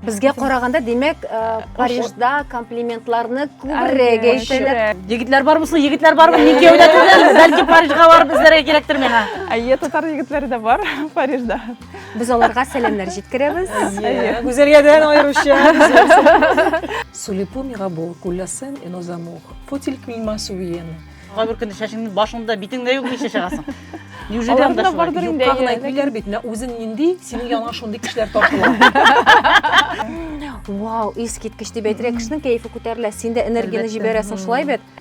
Безгә караганда, димәк, э, Парижда комплиментларны күбрәк әйтәләр. Егетләр бар булсын, егетләр бар булсын, ник яудатсызлар, бәлки Парижга барып эзләргә кирәктер миңа. Әйе, татар егетләре дә бар Парижда. Без аларга сәламнәр җиткерәбез. Гүзәлгәдән аеруча. Сулипу мигабу кулласын энозамух. Футиль килма суиены. Кай бер көнне чәчеңне башыңда, битеңдә юк ничә чыгасың? Неужели анда шулай? Бардыр инде. Юкка гына әйтмиләр бит, менә үзең нинди, синең яныңа шундый кешеләр тартыла. Вау, искиткеч дип әйтергә, кешенең кәефе күтәрелә, син дә энергияне җибәрәсең шулай бит.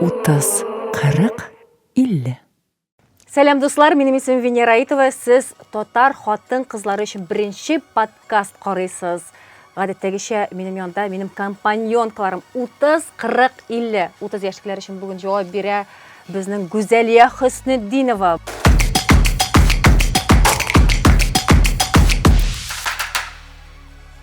Утыз, кырык, илле. Сәлам дуслар, минем исем Венера Итова. Сез татар хатын кызлары өчен беренче подкаст карыйсыз. Гадәттәгечә минем янда минем компаньонкаларым 30, 40, 50. 30 яшьлекләр өчен бүген җавап бирә безнең Гүзәлия Хөснетдинова.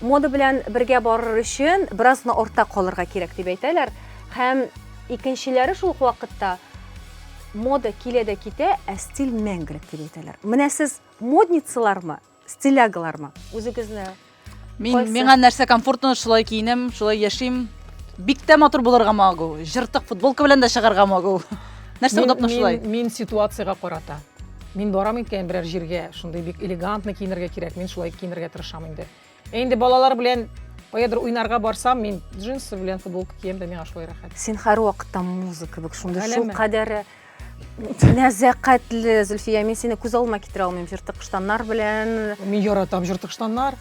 Мода белән бергә барыр өчен бераз гына артта калырга кирәк дип әйтәләр. Һәм икенчеләре шул ук вакытта мода килә дә китә, ә стиль мәңгелек дип әйтәләр. Менә сез модницалармы, стилягалармы? Үзегезне Мин Кайсы? миңа нәрсә комфортно, шулай киенәм, шулай яшим. Бик тә матур булырга магу. Жыртык футболка белән дә чыгарга магу. Нәрсә удобно шулай? Мин ситуациягә карата. Мин барам икән берәр җиргә, шундый бик элегантно киенергә кирәк, мин шулай киенергә тырышам инде. Ә инде балалар белән каядыр уйнарга барсам, мин джинсы белән футболка кием дә миңа шулай рәхәт. Син һәрвакытта муза кебек, шундый шул кадәре нәзәкатьле, Зөлфия, мин сине күз алма китерә алмыйм, җыртык штаннар белән. Мин яратам җыртык штаннар.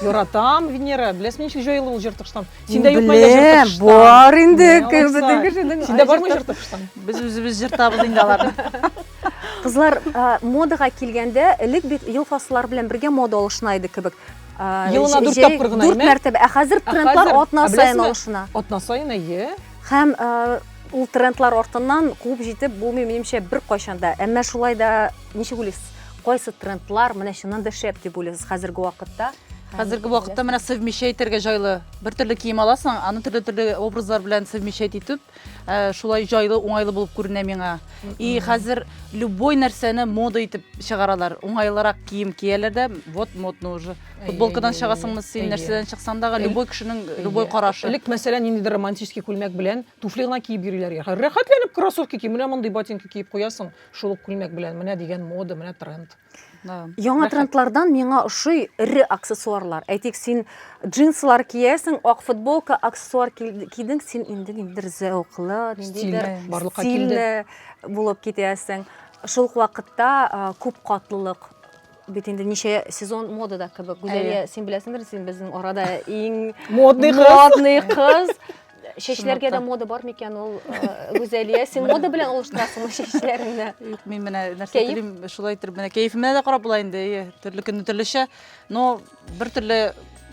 Яратам, Венера. Беләсең, ничек җайлы ул җыртыштан. Синдә юк мәллә җыртыштан? Бар инде, безнең кешенең. Синдә бармы җыртыштан? Без үзебез җыртабыз инде аларны. Кызлар, модага килгәндә, элек бит ел фасыллары белән бергә мода алышына иде кебек. Елына дүрт тапкыр гына, дүрт мәртәбә. Ә хәзер трендлар атна саен алышына. Атна саен, әйе. Һәм ул трендлар артыннан куып җитеп булмый, минемчә, беркайчан да. Әмма шулай да Ничек уйлыйсыз, кайсы трендлар менә чыннан да шәп дип уйлыйсыз хәзерге вакытта? Хәзерге вакытта менә совмещай итәргә җайлы. Бер төрле кием аласың, аны төрле төрле образлар белән совмещай итеп, э, шулай җайлы, уңайлы булып күренә миңа. И хәзер любой нәрсәне мода итеп чыгаралар. Уңайлырак кием кияләр дә, вот модно уже. Футболкадан чыгасыңмы син, нәрсәдән чыксаң да, любой кешенең любой карашы. Элек мәсәлән, ниндидер романтический күлмәк белән туфли гына киеп йөриләр. Рәхәтләнеп кроссовки ки, менә мондый ботинка киеп куясың. шул ук күлмәк белән менә дигән мода менә тренд яңа трендлардан миңа ошый эре аксессуарлар әйтик син джинсылар киясең ак футболка аксессуар кидең син инде ниндидер зәвыклы ниндидер стильле булып китәсең шул ук вакытта күп катлылык бит инде ничә сезон модада кебек гүзәлия син беләсеңдер син безнең арада иң модный кыз Чәчләргә дә мода бар микән ул, э, Гүзәлия? Син мода белән алыштырасыңмы чәчләреңне? Юк, мин менә нәрсә Кәеф? телим, шулай итеп менә кәефемә дә карап була инде. Әйе, төрле көнне төрлечә. Но бер төрле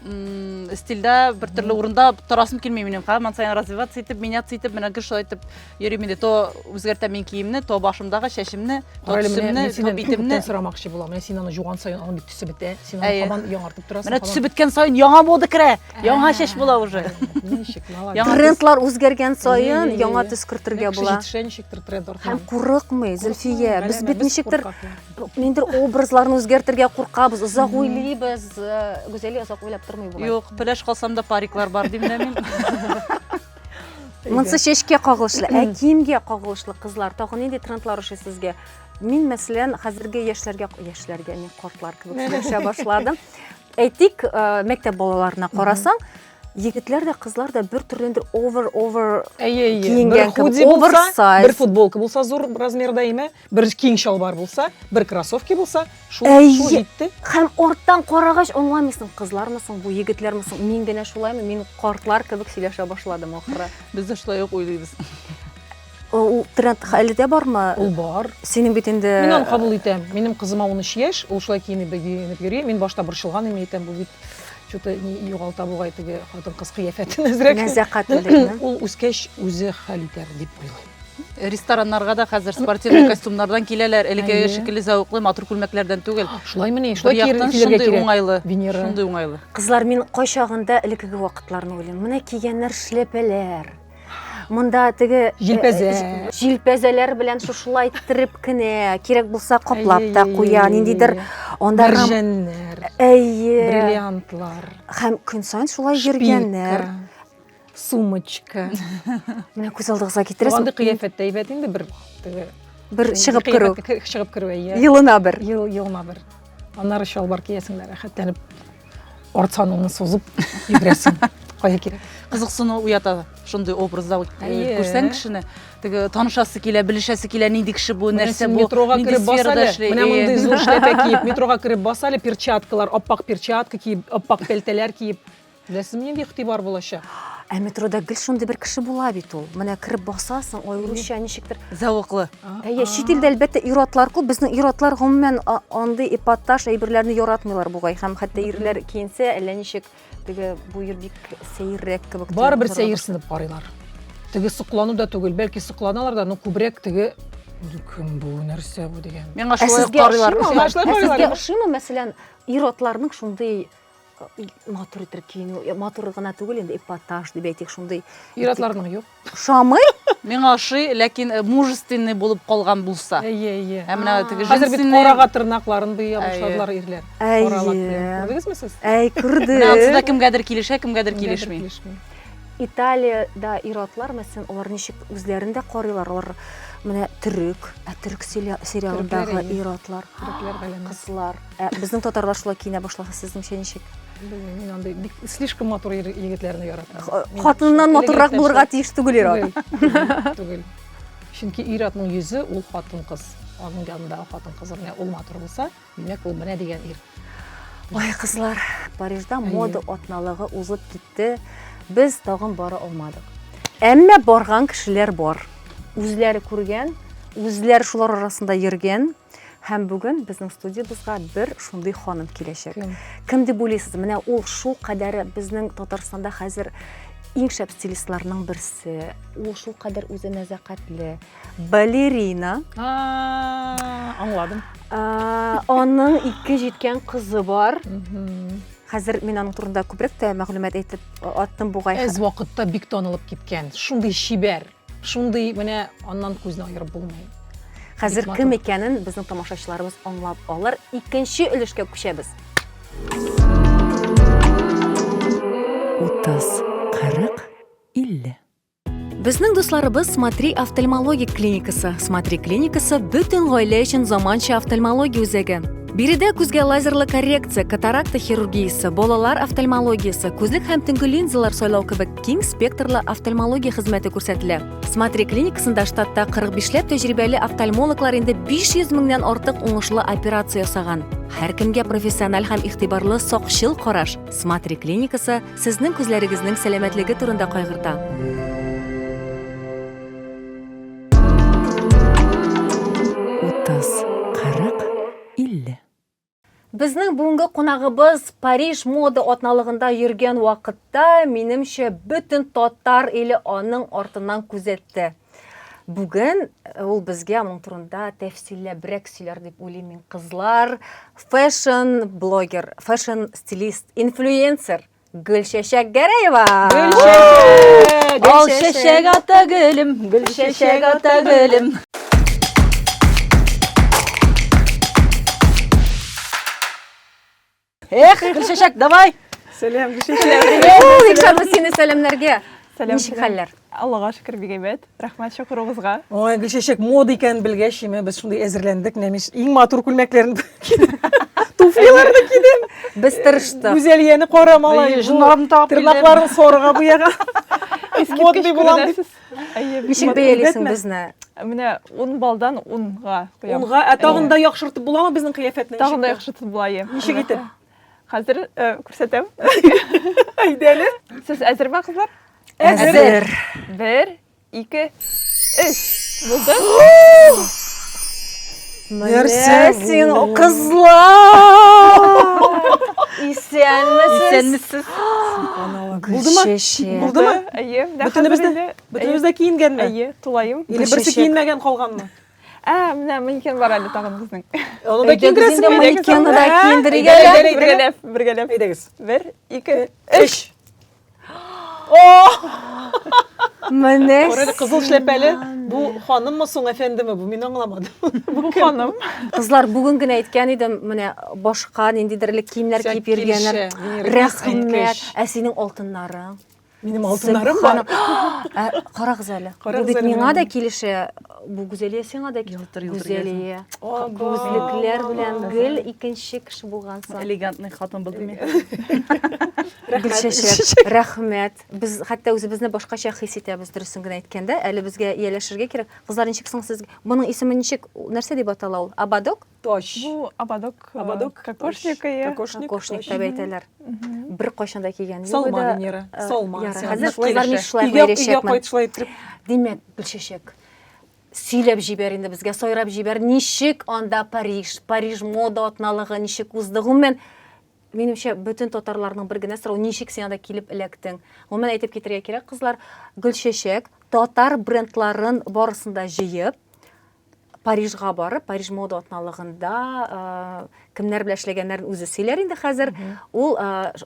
м, стильдә, бер төрле урында торасым килми минем. Һаман саен развиваться итеп, меняться итеп, менә гел шулай итеп Йөрим инде, то үзгәртәм мин киемне, то башымдагы чәчемне, то Рәле, менә төсемне, мин то синнән битемне. күптән сорамакчы булам. Менә син аны жуган саен аның бит төсе бетә. Син аны Әйе. кабан яңартып торасың. Менә кабан- төсе беткән саен яңа мода керә. Яңа Ә, чәч була уже. Ничек, молодец. Яңа Трендлар үзгәргән саен Ие, ие, яңа ие. төс кертергә Менә кеше була. җитешә, ничектер тренд Һәм артыннан. курыкмый, Зөлфия. Без Галәмә, бит без ничектер куркаклар. ниндер образларны үзгәртергә куркабыз, озак уйлыйбыз. Э, Гүзәли озак уйлап тормый бугай. Юк, пеләш калсам да париклар бар дим дә мин. Монсы чәчкә кагылышлы, ә киемгә кагылышлы кызлар, тагын нинди трендлар ошый сезгә? Мин, мәсәлән, хәзерге яшьләргә, яшьләргә мин картлар кебек сөйләшә башладым. Әйтик, э, мәктәп балаларына карасаң, егетләр дә кызлар да бер төрлендер овер овер киенгән кебек овер сайз бер футболка булса зур размерда име Бер киң чалбар булса, бер кроссовки булса, шул шул җитте. Хәм орттан карагач аңламыйсың, кызлармы соң бу, егетләрме соң? Мин генә шулаймы? Мин картлар кебек сөйләшә башладым ахыры. Без дә шулай ук уйлыйбыз. Ул тренд әле дә бармы? Ул бар. Синең бит инде Мин аны кабул итәм. Минем кызыма 13 яшь, ул шулай киенеп йөри. Мин башта борчылган идем, әйтәм, бу бит что-то югалта бугай теге хатын-кыз кыяфәтен әзрәк. Нәзәкатьлелекне. Ул үскәч үзе хәл итәр дип уйлыйм. рестораннарга да хәзер спортивный костюмнардан киләләр әлеге шикелле зәвыклы матур күлмәкләрдән түгел шулай мени шулай яктан шундый уңайлы венера шундый уңайлы кызлар мин кайчагында элекеге вакытларны уйлыйм менә кигәннәр шляпәләр монда теге э, җилпәзә җилпәзәләр белән шушылай иттереп кенә кирәк булса каплап та куя ниндидер анда мәрҗәннәр әйе бриллиантлар һәм көн саен шулай йөргәннәр сумочка менә күз алдыгызга китерәсез андый кыяфәт тә әйбәт инде бер теге бер чыгып керү чыгып керү әйе елына бер ел елына бер аннары чалбар киясең дә рәхәтләнеп арт саныңны сузып йөгерәсең кая кирәк кызыксыну уята шундый образда күрсәң кешене теге танышасы килә белешәсе килә нинди кеше бу нәрсә бу метроға кереп бас әле менә мондый зур шляпа киеп метроға кереп бас әле перчаткалар аппак перчатка киеп аппак пәлтәләр киеп Рәсем нинди игътибар булачак? Ә метрода гел шундый бер кеше була бит ул. Менә кереп басасың, аеруча ничектер. Зәвыклы. Әйе, чит илдә әлбәттә ир-атлар күп. Безнең ир-атлар гомумән андый эпатаж әйберләрне яратмыйлар бугай. Һәм хәтта ирләр киенсә, әллә ничек теге бу ир бик сәеррәк кебек. Барыбер сәерсенеп карыйлар. Теге соклану да түгел, бәлки сокланалар да, но күбрәк теге кем бу, нәрсә бу дигән. Миңа шулай карыйлар. Ә сезгә ошыймы, мәсәлән, ир-атларның шундый матур итеп киенү матур гына түгел инде эпатаж дип әйтик шундый ир атларның юк ошамый миңа ошый ләкин э, мужественный булып калган булса әйе әйе ә менә теге хәзер бит карага тырнакларын буя башладылар ирләр күрдегезме сез әй күрдек ансыда кемгәдер килешә кемгәдер килешми италиядә ир атлар мәсәлән алар ничек үзләрен дә карыйлар алар менә төрек ә төрек сериалындагы ир атлар кызлар Ә безнең татарлар шулай киенә башласа, сезнеңчә ничек? Белмим, мин андый бик слишком матур ир- егетләрне яратам. Х- Мин Хатыннан шул матуррак элегрәк булырга нәрсә- тиеш түгел ир-ат. Түгел, түгел. Чөнки ир-атның йөзе ул хатын-кыз. Аның янында хатын-кыз менә ул матур булса, димәк ул менә дигән ир. Ой, кызлар, Парижда Әйе. мода атналыгы узып китте. Без тагын бара алмадык. Әмма барган кешеләр бар. Үзләре күргән, үзләре шулар арасында йөргән. Һәм бүген безнең студиябызга бер шундый ханым киләчәк. Кем? Кем дип уйлыйсыз? Менә ул шул кадәре безнең Татарстанда хәзер иң шәп стилистларның берсе. Ул шул кадәр үзе нәзакәтле. Балерина. Аңладым. Аның ике җиткән кызы бар. Хәзер мин аның турында күбрәк тә мәгълүмат әйтеп аттым бугай. Әз вакытта бик танылып киткән. Шундый чибәр. Шундый менә аннан күзне аерып булмый. Хәзер кем икәнен безнең тамашачыларыбыз аңлап алыр. Икенче өлешкә күчәбез. 30, 40, 50. Безнең дусларыбыз Смотри офтальмологик клиникасы. Смотри клиникасы бөтен гаилә өчен заманча офтальмология үзәге. Биредә күзгә лазерлы коррекция, катаракта хирургиясе, балалар офтальмологиясе, күзлек һәм төнге линзалар сайлау кебек Киң спектрлы офтальмология хезмәте күрсәтелә. Смотри клиникасында штатта 45ләп тәҗрибәле офтальмологлар инде 500 меңнән артык уңышлы операция ясаган. Һәркемгә профессиональ һәм игътибарлы сакчыл караш. Смотри клиникасы сезнең күзләрегезнең сәламәтлеге турында кайгырта. Утыз, кырык, илле. Безнең бүгенге кунагыбыз Париж мода атналыгында йөргән вакытта, минемчә, бөтен татар иле аның артыннан күзәтте. Бүген э, ул безгә моның турында тәфсилләбрәк сөйләр дип уйлыйм мин. Кызлар, фэшн блогер, фэшн стилист, инфлюенсер. Гөлчәчәк Гәрәева! Гөлчәчәк! Гөлчәчәк ата гөлем, гөлчәчәк ата гөлем. Эх, Гөлчәчәк, давай! Сәлам, Гөлчәчәк! Ул икшарлы сине сәламнәргә. Ничек хәлләр? Аллага шөкер, бик әйбәт. Рәхмәт чакыруыгызга. Ой, Гөлчәчәк, мода икәнен белгәч, име, без шундый әзерләндек, менә мин иң матур күлмәкләрен туфлиларны кидем. Без тырыштык. Гүзәлияне кара малай. Җоннарын тагып килдем. Тырнакларын сорыга буяга. Искиткеч күренәсез. Ничек бәялисең безне? Менә 10 балдан 10 га куям. 10 га, ә тагын да яхшыртып буламы безнең кыяфәтне? Тагын да яхшыртып була, ие. Ничек итеп? Хәзер э, күрсәтәм. Әйдәле. Сез әзерме, кызлар? Әзер. Бер, ике, өч. Булды? Нәрсә син, бу? кызлар! Исәнмесез! Исәнмесез. Булдымы? Гөлчәчәк. Булдымы? Әйе, менә Бөтенебез хәзер дә- инде- бөтенебез дә киенгәнме? Әйе, тулаем. Или берсе Гөлчәчәк. киенмәгән калганмы? Ә, менә манекен бар әле тагын безнең. Аны да киндерәсең инде. Манекенны да киндерик әле. Бергәләп, бергәләп. Әйдәгез. Бер, ике, өч. Менә. Күрәле кызыл шәпәле. Бу ханыммы соң, әфәндеме бу? Мин аңламадым. Бу ханым. Кызлар бүген генә әйткән идем, менә башка ниндидер элек киемнәр киеп йөргәннәр. Рәхмәт. Ә синең алтыннарың? Минем алтыннарым бар. Ә, Карагыз әле. Бу бит миңа да килешә. Бу Гүзәлия сиңа да килешә. Гүзәлия. Күзлекләр белән гел икенче кеше булгансың. Элегантный хатын булдым мин. Гөлчәчәк, рәхмәт. Без хәтта үзебезне башкача хис итәбез, дөресен генә әйткәндә. Әле безгә ияләшергә кирәк. Кызлар, ничек соң сезгә? Моның исеме ничек? Нәрсә дип атала ул? Абадок? Тач. Бу ободок. Э, ободок. Кокошник. Кокошник. Кокошник дип әйтәләр. Бер кайчан да кигән юк. Салма, Венера. Э, Салма. Хәзер кызлар ни шулай бәйрәшәкмен. Димәк, Гөлчәчәк, сөйләп җибәр инде безгә, сайрап җибәр, ничек анда Париж, Париж мода атналыгы ничек узды? Гомумән, минемчә бөтен татарларның бер генә сорау ничек син анда килеп эләктең гомумән әйтеп китәргә кирәк кызлар гөлчәчәк татар брендларын барысын да җыеп Парижга барып, Париж мода атналыгында кемнәр белән эшләгәннәрен үзе сөйләр инде хәзер. Ул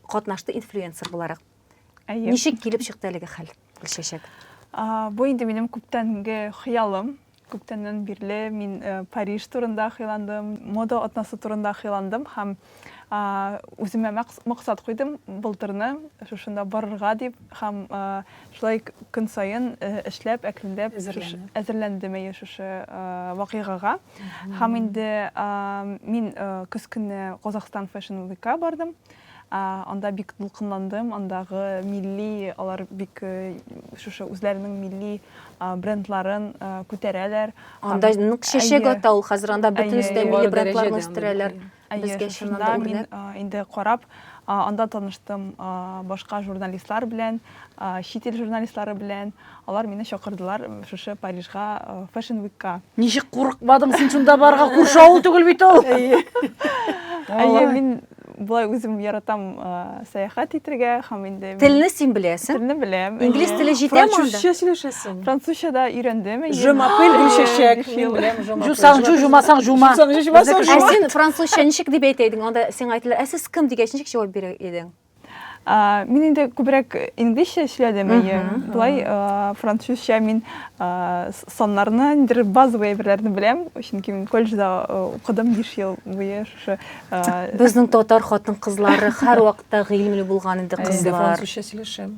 катнашты инфлюенсер буларак. Ничек килеп чыкты әлеге хәл, Гөлчәчәк? Бу инде минем күптәнге хыялым. Күптәннән бирле мин Париж турында хыялландым, мода атнасы турында хыялландым һәм үземә максат куйдым былтырны шушында барырга дип һәм шулай көн саен эшләп әкренләп әзерләндем әйе шушы вакыйгага һәм инде мин көз көне казахстан фэшн вика бардым анда бик дулкынландым андагы милли алар бик шушы үзләренең милли брендларын күтәрәләр. Анда нык чәчәк ата ул хәзер, анда бөтенесе дә милли брендларны үстерәләр. Безгә чыннан да үрнәк. Мин инде карап, анда таныштым башка журналистлар белән, чит ил журналистлары белән. Алар мине чакырдылар шушы Парижга Fashion Week ка. Ничек курыкмадың син шунда барырга, күрше авыл түгел бит ул. Әйе. Әйе, мин Болай үзем яратам сәяхәт итергә һәм инде Телне син беләсең? Телне беләм. Инглиз теле җитәме анда? Французча сөйләшәсең. Французча да өйрәндем. Je m'appelle Гөлчәчәк. Мин беләм Je m'appelle. Җусаң җу, җумасаң җума. Җусаң җу, җумасаң җума. Ә син французча ничек дип әйтә идең? Анда сиңа әйтәләр, ә сез кем дигәч ничек җавап бирер идең? А, мин инде күбрәк инглизчә эшләдем, әйе. Болай французча мин саннарны, ниндидер базовый әйберләрне беләм, чөнки мин колледжда укыдым 5 ел буе шушы. Безнең татар хатын-кызлары һәрвакытта гыйлемле булган инде кызлар. Французча сөйләшәм.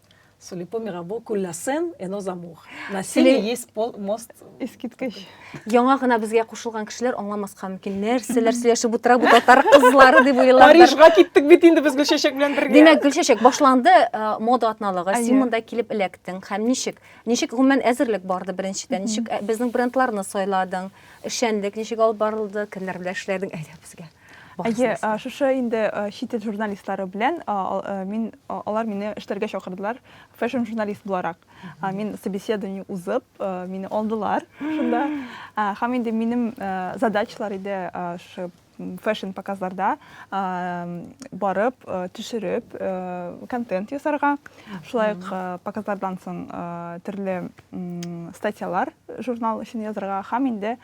Судя по мирабу, кулласен, эно замух. На силе есть мост. Искиткеч. Яңа гына безгә кушылган кешеләр аңламаска мөмкин. Нәрсәләр сөйләшеп утыра бу татар кызлары дип уйлар. Парижга киттек бит инде без Гөлчәчәк белән бергә. Димәк, Гөлчәчәк башланды э, мода атналыгы. Син монда килеп эләктең һәм ничек? Ничек гомумән әзерлек барды беренчедән? Ничек э, безнең брендларны сайладың? Эшчәнлек ничек алып барылды? Кемнәр белән эшләдең? Әйдә безгә. Әйе, шушы инде чит ил журналистлары белән мин алар мине эшләргә чакырдылар, фэшн журналист буларак. Мин собеседование узып, мине алдылар шунда. Һәм инде минем задачалар иде шушы фэшн показларда барып, төшереп, контент ясарга. Шулай ук показлардан соң төрле статьялар журнал өчен язарга һәм инде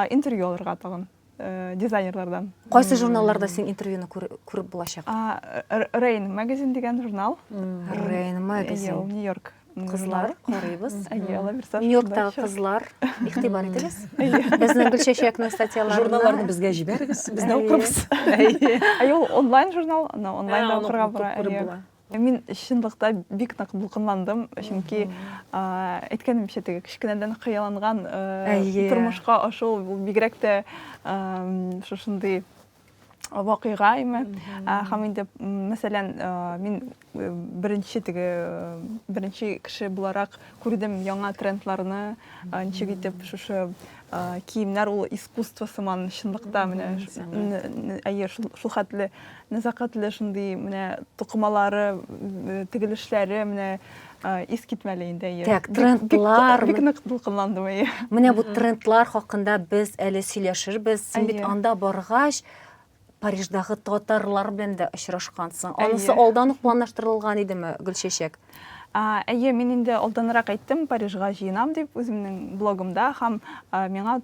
интервью алырга тагын. э, дизайнерлардан. Кайсы журналларда син интервьюны күреп булачак? Rain Magazine дигән журнал. Rain Magazine. Ул Нью-Йорк кызлар карыйбыз нью-йорктагы кызлар игътибар итегез безнең гөлчәчәкнең статьяларын журналларны безгә җибәрегез без дә укырбыз әйе ул онлайн журнал онлайн да укырга була Мин чынлыкта бик нык дулкынландым, чөнки әйткәнемчә теге кечкенәдән хыялланган тормышка ашу ул бигрәк тә шушындый вакыйга име. Һәм инде мәсәлән, мин беренче теге беренче кеше буларак күрдем яңа трендларны, ничек итеп шушы киемнәр ул искусство сыман чынлыкта менә әйе шул хәтле Нәзакәтле шундый менә тукымалары, тегелешләре менә ис китмәле инде. Так, трендлар. Бик нык дулкынландым, әйе. Менә бу трендлар хакында без әле сөйләшербез. Син бит анда баргач, Париждагы татарлар белән дә очрашкансың. Анысы алдан ук планлаштырылган идеме, Гөлчәчәк? Әйе, мин инде алданрак әйттем, Парижга җыенам дип, үземнең блогымда һәм миңа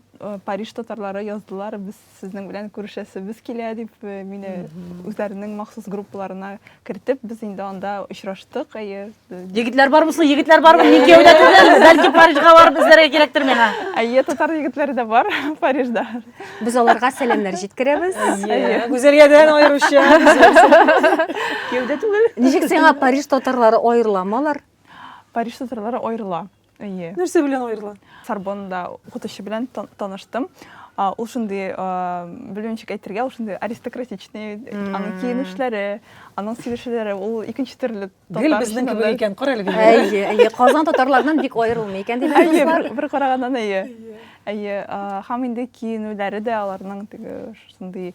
Париж татарлары яздылар, без Сезнең белән күрешәсебез килә дип, э, мине үзләренең махсус группаларына кертеп, без инде анда очраштык. Әйе. Егетләр бармы соң? Егетләр бармы? Ник кияүдә түгелбез? Бәлки Парижга барып эзләргә кирәктер миңа. Әйе, татар егетләре дә бар Парижда. Без аларга сәламнәр җиткерәбез. Иә, Гүзәлгә дә аеруча. Кияүдә түгел. Ничек сиңа Париж татарлары аерыламы алар? Париж татарлары аерыла. Әйе. Нәрсә белән аерыла? Сорбонда укытучы белән таныштым. Ул шундый, белмичек әйтергә, ул шундый аристократичный, аның киенешләре, аның сөйләшүләре, ул икенче төрле татар. Гел безнең кебек икән, кара әле. Әйе, әйе, Казан татарларыннан бик аерылмый икән дип әйтәләр. Бер караганнан әйе. Әйе, һәм инде киенүләре дә аларның теге шундый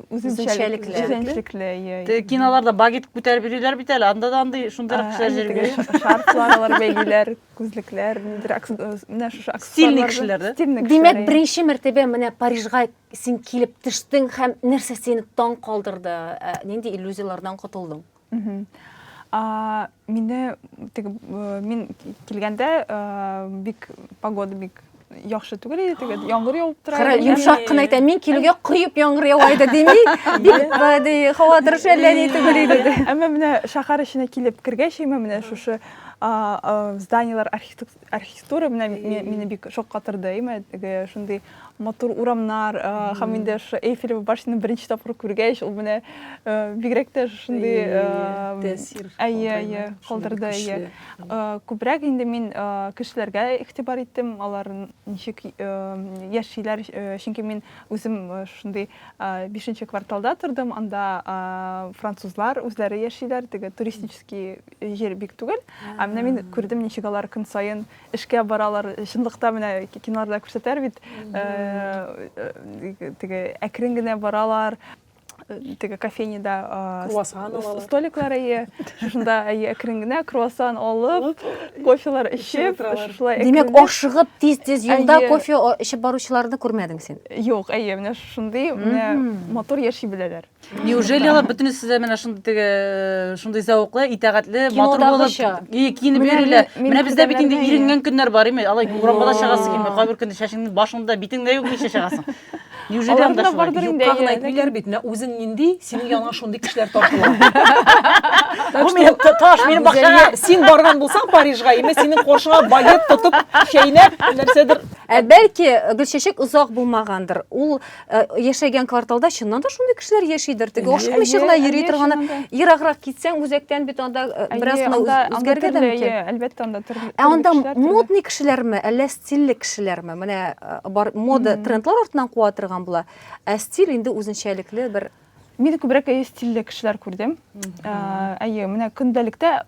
үзенчәлекле үзенчәлекле иә киноларда багет күтәреп йөриләр бит әле анда да андый шундыйрак кешеләр җөргәли шарфлар алар бәйлиләр күзлекләр нидер менә шушы стильный кешеләр да стильный кешеләр димәк беренче мәртәбә менә парижга син килеп төштең һәм нәрсә сине таң калдырды нинди иллюзияләрдән котылдың Мине мин килгәндә бик погода бик яхшы түгел иде теге яңгыр явып тора кара йомшак кына әйтә мин килүгә коеп яңгыр ява иде дими бик ди һава торышы әллә ни түгел иде әмма менә шәһәр эченә килеп кергәч имә менә шушы зданиелар архитектура менә мине бик шаккатырды имә теге шундый матур урамнар һәм инде шушы Эйфелева башняны беренче тапкыр күргәч, ул менә бигрәк тә шундый тәэсир калдырды. Күбрәк инде мин кешеләргә игътибар иттем, алар ничек яшиләр, чөнки мин үзем шундый бишенче кварталда тордым, анда французлар үзләре яшиләр, теге туристический җир бик түгел. Ә менә мин күрдем, ничек алар көн саен эшкә баралар. Чынлыкта менә киноларда күрсәтәр бит, теге әкрен генә баралар, теге кофейняда круассан алалар. Столиклар әйе, шунда әйе әкрен генә круассан алып, кофелар эчеп, шулай әкрен. Димәк, ашыгып тиз-тиз юлда кофе эчеп баручыларны күрмәдең син? Юк, әйе, менә шундый, менә матур яши беләләр. Неужели алар бөтенесе сезгә менә шундый теге э, шундый зәвыклы, итәгатьле, матур булып и киенеп йөриләр. Менә бездә бит инде иренгән көннәр бар име? Алай урамга да чыгасы килми. Кайбер көндә чәчеңне башыңда, битеңдә юк ничә чыгасың. Неужели анда шулай? Юкка гына әйтмиләр бит. Менә үзең нинди, синең яныңа шундый кешеләр тартыла. Бу минем таш, минем бакчага. Син барган булсаң Парижга, име синең коршыңа балет тотып, чәйнәп, нәрсәдер Ә бәлки Гөлчәчәк озак булмагандыр. Ул Э, яшәгән кварталда чыннан да шундый кешеләр яшидер теге ашыкмыйча гына йөри торганы ераграк китсәң үзәктән бит анда э, бераз гына үзгәргән дә мөмкин әлбәттә анда төрле ә анда модный кешеләрме әллә стильле кешеләрме менә э, бар мода трендлар артыннан куа торган була ә стиль инде үзенчәлекле бер Мин күбрәк әйе стильле кешеләр күрдем. Әйе, менә көндәлектә,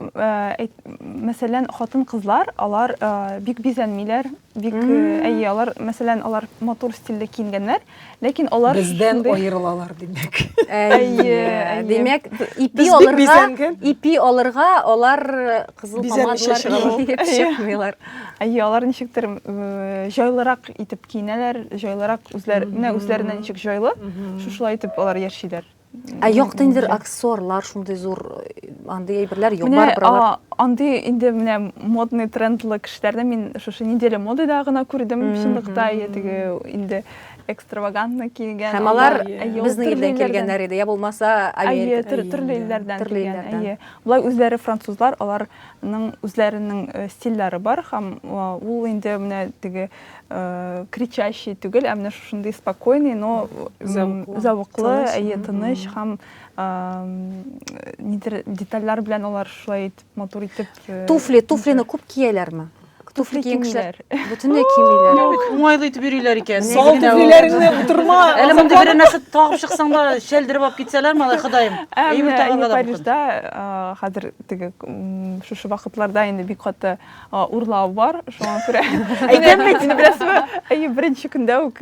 мәсәлән, хатын-кызлар, алар бик бизәнмиләр, бик әйе, алар, мәсәлән, алар матур стильле киенгәннәр, ләкин алар бездән аерылалар, димәк. Әйе, димәк, ипи алырга, ипи алырга алар кызыл помадалар чыкмыйлар. Әйе, алар ничектер җайлырак итеп киенәләр, җайлырак үзләренә үзләренә ничек җайлы, шушылай итеп алар яшиләр. Ә юк тендер аксессуарлар шундый зур э, андый әйберләр юк бар биралар. Андый инде менә модный трендлы кешеләрне мин шушы неделя модада гына күрдем чынлыкта теге инде экстравагантно килгән. Һәм алар безнең илдән килгәннәр иде, я булмаса Америка. Әйе, төрле илләрдән килгән. Әйе. Болай үзләре французлар, алар Аларның үзләренең стильләре бар һәм ул инде менә теге кричащий түгел, ә менә шушындый спокойный, но зәвыклы, әйе, тыныч һәм нидер детальләр белән алар шулай итеп матур итеп. Туфли, туфлины күп кияләрме? Туфли киен кешеләр бөтенләй кимиләр. Уңайлы итеп йөриләр икән. Сал туфлиләреңне утырма. Әле мондый бер нәрсә тагып чыксаң да, шәлдереп алып китсәләр, малай Ходаем. Әйбер тагырга да мөмкин. Парижда хәзер теге шушы вакытларда инде бик каты урлау бар, шуңа күрә. Әйтәм бит инде, беренче көндә үк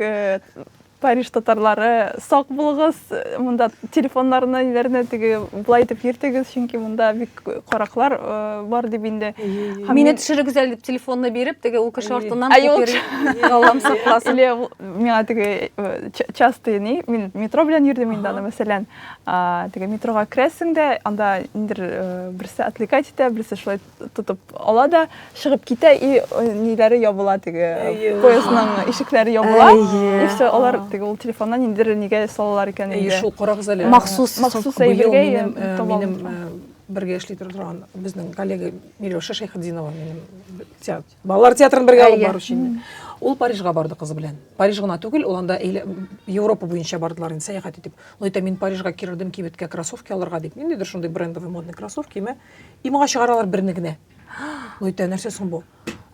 Париж татарлары сак булыгыз, монда телефоннарны ниләрне теге болай итеп йөртегез, чөнки монда бик караклар э, бар дип инде. Һәм Мине мин- төшерегез әле дип телефонны биреп, теге ул кеше артыннан Ай, ул купер Аллам сакласын. Или ул- миңа теге э, ча- частый ни, мин метро белән йөрдем инде аны, мәсәлән, а, теге метрога керәсең дә, анда ниндер э, берсе отвлекать итә, берсе шулай тотып ала да чыгып китә и ниләре ябыла теге поездның ишекләре ябыла и все алар теге ул телефоннан ниндидер нигә салалар икән инде шул карагыз әле махсус махсус әйбергә минем бергә эшли торган безнең коллега миләүшә шәйхетдинова минем балалар театрын бергә алып бару өчен ул парижга барды кызы белән париж гына түгел ул анда европа буенча бардылар инде сәяхәт итеп ул әйтә мин парижга кердем кибеткә кроссовки алырга дип ниндидер шундый брендовый модный кроссовкиме и моңа чыгаралар берне генә ул әйтә нәрсә соң бу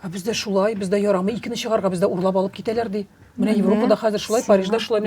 ә бездә шулай бездә ярамый икене чыгарга бездә урлап алып китәләр ди менә европада хәзер шулай парижда шулай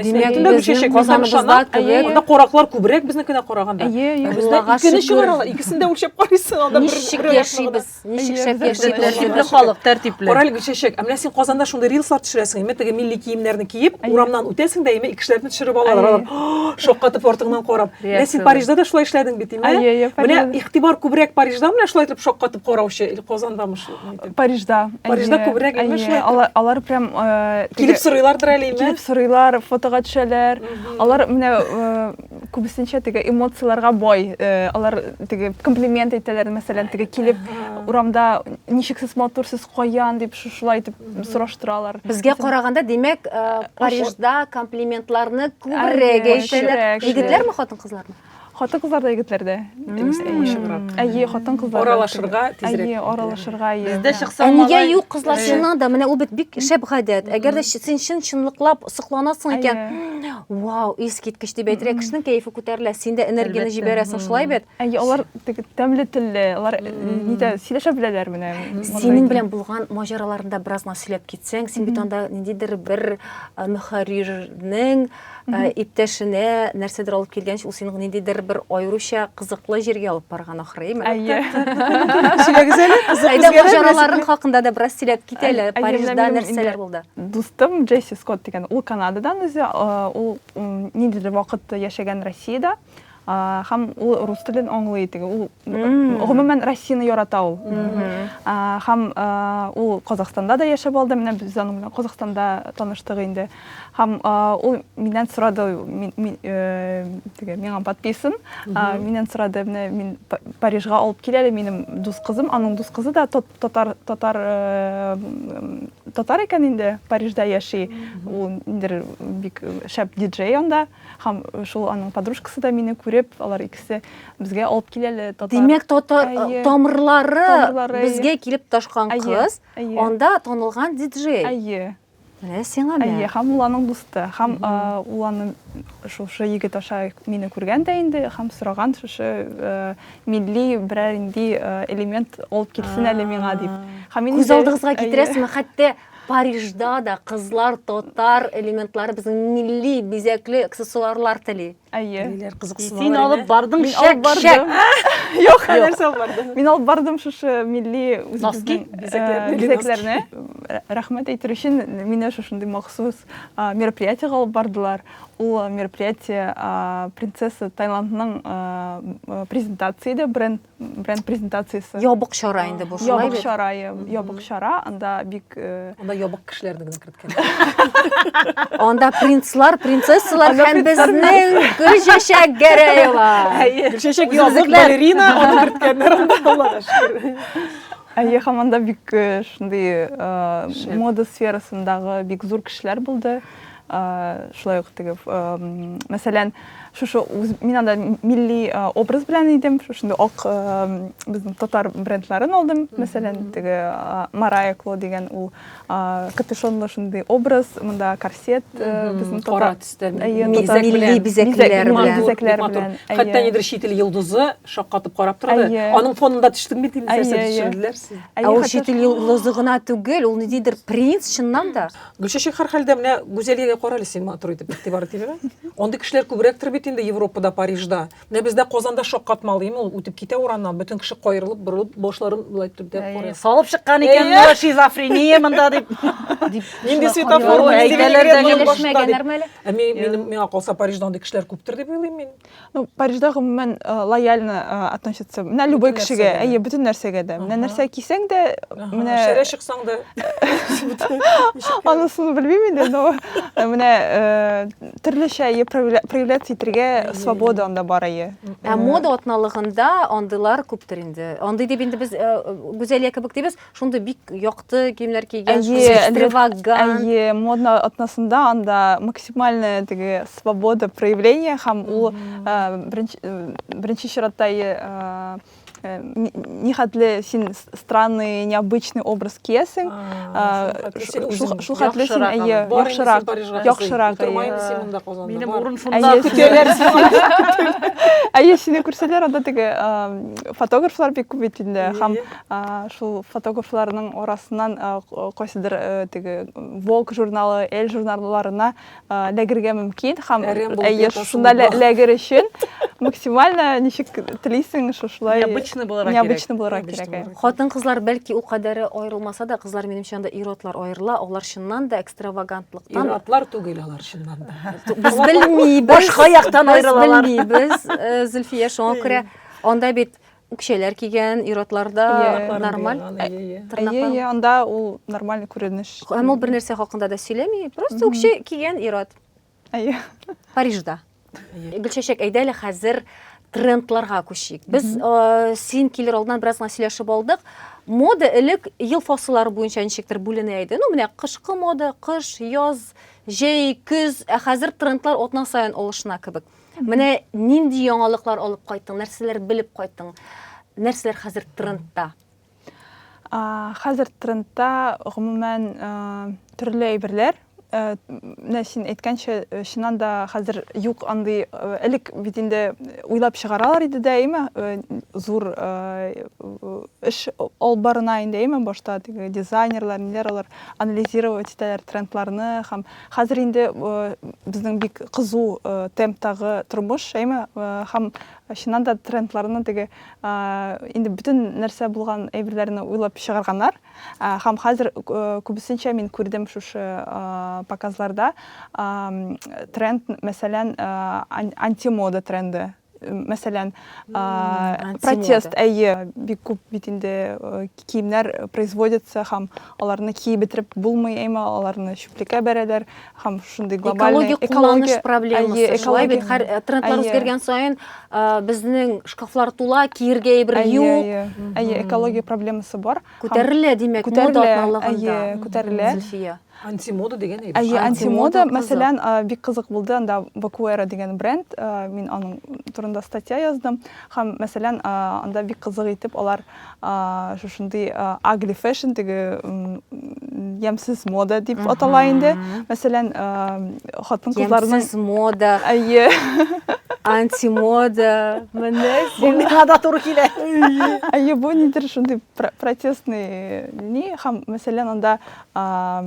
анда кораклар күбрәк безнекенә караганда икене чыгаралар икесен дә үлчәп карыйсың анда ничек яшибез Ничек шәп яши Тәртипле халык, тәртипле. Кораль Гөлчәчәк, ә менә син Казанда шундый рилслар төшерәсең, име теге милли киемнәрне киеп, урамнан үтәсең дә, име икешеләрне төшереп алалар. Алар шаккатып артыңнан карап. Менә син Парижда да шулай эшләдең бит, име? Менә игътибар күбрәк Парижда менә шулай итеп шаккатып караучы, или Казандамы шул? Парижда. Парижда күбрәк име шулай? Алар алар прям э, килеп сорыйлардыр әле, име? Килеп сорыйлар, фотога төшәләр. Алар менә э, күбесенчә теге эмоцияләргә бай. Э, алар теге комплимент әйтәләр, мәсәлән, теге килеп урамда ничексез матур сез каян дип шушылай итеп сораштыралар. Безгә караганда, димәк, э, Парижда комплиментларны күбрәк әйтәләр. Егетләрме, хатын-кызлармы? хатын кызлар да егетләр дә әйе хатын кызлар аралашырга тизрәк әйе аралашырга әйе бездә чыкса ә нигә юк кызлар чыннан да менә ул бит бик шәп гадәт әгәр дә син чын чынлыклап сокланасың икән вау искиткеч дип әйтергә кешенең кәефе күтәрелә син дә энергияне җибәрәсең шулай бит әйе алар теге тәмле телле алар нидә сөйләшә беләләр менә синең белән булган маҗараларында бераз гына сөйләп китсәң син бит анда ниндидер бер мөхәррирнең иптәшенә нәрсәдер алып килгәнче ул синең ниндидер бер аеруча кызыклы җиргә алып барган ахрыймы әйе сөйләгез әле кызык үзгәрә маҗараларың хакында да бераз сөйләп кит әле парижда нәрсәләр булды Дустым Джесси Скотт дигән, ул Канададан үзе, ул ниндидер вакыт яшәгән Россиядә һәм ул рус телен аңлый теге ул гомумән россияны ярата ул һәм ул казахстанда да яшәп алды менә без аның белән казахстанда таныштык инде һәм ул миннән сорады э, теге миңа подписан миннән сорады менә мин парижга алып кил әле минем дус кызым аның дус кызы да татар татар э, Татар икән инде, Парижда яши. Ул ниндер бик шәп диджей анда. Һәм шул аның подружкасы да мине күреп, алар икесе безгә алып киләле татар. Димәк, татар тамырлары безгә килеп ташкан кыз, анда танылган диджей. Әйе. Менә сиңа менә. Әйе, һәм ул аның дусты. Һәм ул аны шушы егет аша мине күргән дә инде, һәм сораган шушы милли берәр нинди элемент алып килсен әле миңа дип һәм күз алдыгызга китерәсезме хәтта парижда да кызлар татар элементлары безнең милли бизәкле аксессуарлар тели әйе ниләр кызыксыналар син алып бардың шәк шәк юк нәрсә алып бардың мин алып бардым шушы милли носки бизәкләрне рәхмәт әйтер өчен мине шушындый махсус мероприятиега алып бардылар Ул мероприятие принцесса Таиландның презентация иде, бренд, бренд презентациясе. Ябык чара инде бу, шулай бит? Ябык чара, ябык чара, анда бик... Анда ябык кешеләрне генә керткән. Анда принцлар, принцессалар һәм безнең Гөлчәчәк Гәрәева. Гөлчәчәк ябык балерина, аны керткәннәр анда, Аллага шөкер. Әйе, һәм анда бик шундый мода сферасындагы бик зур кешеләр булды. Шулай ук теге, мәсәлән, шушы мин анда милли образ белән идем, шушында ак безнең татар брендларын алдым, мәсәлән, теге Марая Кло дигән ул капюшонлы шундый образ, монда корсет, безнең татар милли бизәкләр белән. Хәтта нидер чит ил йолдызы шаккатып карап торды. Аның фонында төштем бит инде, сәясәт төшерделәр сине. Ә ул чит ил йолдызы гына түгел, ул ниндидер принц чыннан да. Гөлчәчәк һәрхәлдә менә Гүзәлиягә карале син матур итеп игътибар итимме? Андый кешеләр күбрәктер бит инде Европада, Парижда. Менә бездә Казанда шаккатмалыйм ул, үтеп китә урамнан, бөтен кеше каерылып, борылып, башларын болай итеп тә карый. Салып чыккан икән менә шизофрения монда дип. Нинди светофор, әйтәләр дә әле. Миңа калса Парижда андый кешеләр күптер дип уйлыйм мин. ну парижда гомумән э, лояльно э, относятся менә любой Бөтен кешегә нәрсәгә дә. әйе бөтен нәрсәгә дә менә Аһа. нәрсә кисәң дә Аһа, менә Шәрә чыксаң да. анысын белмим инде но э, менә э, төрлечә әйе проявля- проявляться итәргә Әйе, свобода анда бар әйе Ә мода атналыгында андыйлар күптер инде. Андый дип инде без э, Гүзәлия кебек дибез, шундый бик якты киемнәр кигән, экстравагант. Әйе, модно атнасында анда максимальная теге свобода проявления һәм ул беренче чиратта Э, нихәтле син странный необычный образ киясең шул хәтле син әйе яхшырак яхшырак минем урын шунда көтәләр әйе сине күрсәләр анда теге фотографлар бик күп бит инде һәм Шул фотографларның арасыннан кайсыдыр теге Волк журналы, Эль журналларына ләгергә мөмкин һәм әйе, шунда ләгер өчен максимально ничек телисең, шушылай необычный буларак кирәк. Необычный буларак кирәк. Хатын-кызлар бәлки ул кадәре аерылмаса да, кызлар минемчә анда ир-атлар аерыла, алар чыннан да экстравагантлыктан. Ир-атлар түгел алар чыннан да. Без белмибез. Башка яктан аерылалар. Без белмибез, Зөлфия, шуңа күрә анда бит Үкчәләр кигән ир-атларда нормаль. Әйе, анда ул нормаль күренеш. Һәм ул бер нәрсә хакында да сөйләми, просто үкчә кигән ир-ат. Әйе. Парижда. Гөлчәчәк, әйдә әле хәзер трендларга күчик. Без син килер алдыннан бераз гына сөйләшеп алдык. Мода элек ел фасыллары буенча ничектер бүленә иде. Ну, менә кышкы мода, кыш, яз, җәй, көз, ә хәзер трендлар атна саен алышына кебек. Менә нинди яңалыклар алып кайттың, нәрсәләр белеп кайттың, нәрсәләр хәзер трендта? Хәзер трендта гомумән төрле әйберләр. Менә син әйткәнчә, чыннан да хәзер юк андый, элек бит инде уйлап чыгаралар иде дә, әйме, зур эш алып барына инде, әйме, башта теге дизайнерлар, ниләр алар анализировать итәләр трендларны һәм Хәзер инде безнең бик кызу темптагы тормыш, әйме? Һәм чыннан да трендларны теге инде бөтен нәрсә булган әйберләрне уйлап чыгарганнар. Һәм хәзер күбесенчә мин күрдем шушы показларда тренд, мәсәлән, антимода тренды. мәсәлән протест әйе бик күп бит инде киемнәр производятся һәм аларны киеп бетереп булмый әмма аларны чүплеккә бәрәләр һәм шундый глобальный экология кулланыш проблемасы шулай бит һәр трендлар үзгәргән саен безнең шкафлар тула киергә әйбер юк әйе экология проблемасы бар күтәрелә димәк күтәрелә күтәрелә Антимода дигән әйбер. Әйе, антимода, мәсәлән, бик кызык булды, анда Бакуэра дигән бренд, мин аның турында статья яздым. Һәм, мәсәлән, анда бик кызык итеп алар шушындый агли фэшн, теге ямсыз мода дип атала инде. Мәсәлән, хатын-кызларның ямсыз мода. Әйе. Антимода, менә син. Бу миңа да туры килә. Әйе, бу нидер шундый протестный ни, һәм, мәсәлән, анда а,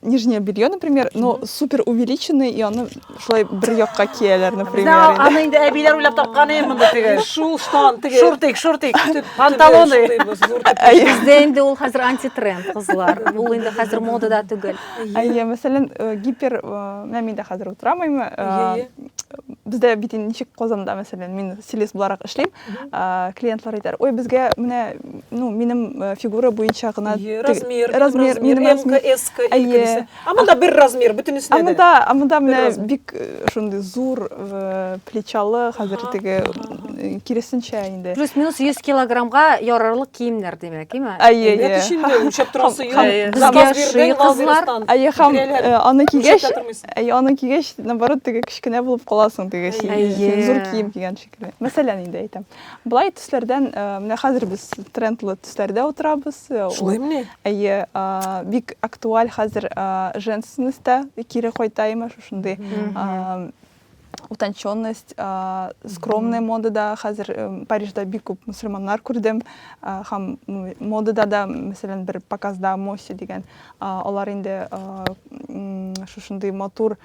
нижнее белье, например, но супер увеличенное, и оно шулай бер якка кияләр, например. Бездә аны инде әбиләр уйлап тапкан инде монда теге. Шул штан теге. Шортик, шортик, панталоны. Бездә инде ул хәзер антитренд, кызлар. Ул инде хәзер модада түгел. Әйе, мәсәлән, э, гипер, э, менә мин дә хәзер утырамыймы? Э, бездә бит ничек Казанда, мәсәлән, мин стилист буларак эшлим. Э, клиентлар әйтәр ой безгә менә ну минем э, фигура буенча гына размер размер минем размер эска әйе а монда бер размер бөтенесенә дә монда а монда менә бик э, шундый зур плечалы хәзер теге киресенчә инде плюс минус 100 килограммга ярарлык киемнәр димәк име әйе әйе шундый үлчәп торасы кызлар әйе һәм аны кигәч әйе аны кигәч наоборот теге кечкенә булып каласың теге зур кием кигәнче Мәсәлән, инде әйтәм. Былай төсләрдән, э, менә хәзер без трендлы төсләрдә утырабыз. Э, Шулаймыни? Әйе, э, бик актуаль хәзер женственностьта кире кайта имә шушындый утонченность, скромная модада хәзер Парижда бик күп мусульманнар күрдем. Һәм модада да, мәсәлән, бер показда Моси дигән, алар инде шушындый матур